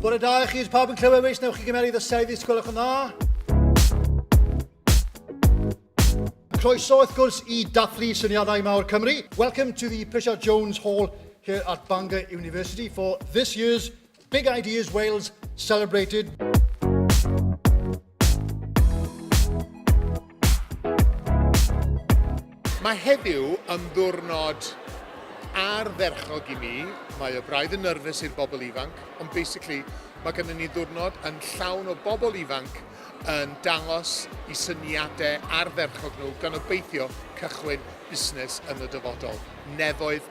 Bore da i chi, pawb yn clywed weis, newch chi gymeryd y sedd i sgwylwch yn dda. Croeso wrth gwrs i dathlu syniadau mawr Cymru. Welcome to the Prisiad Jones Hall here at Bangor University for this year's Big Ideas Wales celebrated. Mae heddiw yn ddwrnod ardderchog i mi. Mae y braidd yn nyrfus i'r bobl ifanc, ond basically mae gennym ni ddwrnod yn llawn o bobl ifanc yn dangos i syniadau ardderchog nhw gan obeithio cychwyn busnes yn y dyfodol. Nefoedd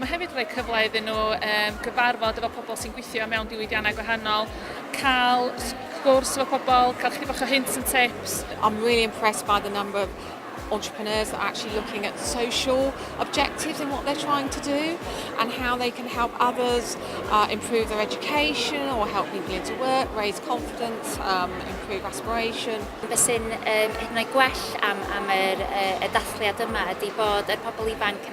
Mae hefyd yn rhoi cyfle iddyn nhw um, gyfarfod efo pobl sy'n gweithio mewn diwydiannau gwahanol, cael gwrs efo pobl, cael chdi bach o hints and tips. I'm really impressed by the number of entrepreneurs that are actually looking at social objectives in what they're trying to do and how they can help others uh, improve their education or help people into work, raise confidence, um, improve aspiration. Be sy'n um, hyd yn oed gwell am, am yr, y, y dathliad yma ydy bod y pobl ifanc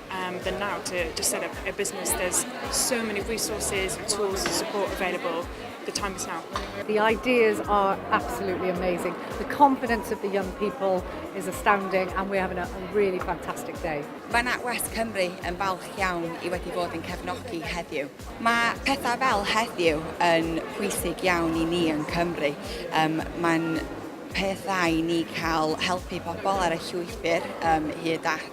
Um, than now to, to set up a business. There's so many resources and tools and support available. The time is now. The ideas are absolutely amazing. The confidence of the young people is astounding and we're having a, a really fantastic day. Mae NatWest Cymru yn falch iawn i wedi bod yn cefnogi heddiw. Mae pethau fel heddiw yn pwysig iawn i ni yn Cymru. Um, Mae'n pethau i ni cael helpu pobl ar y llwybyr um, hyd at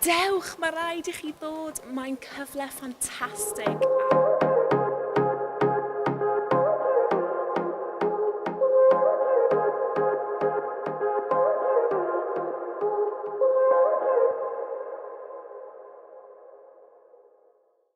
Dewch, mae rhaid i chi ddod, mae'n cyfle ffantastig!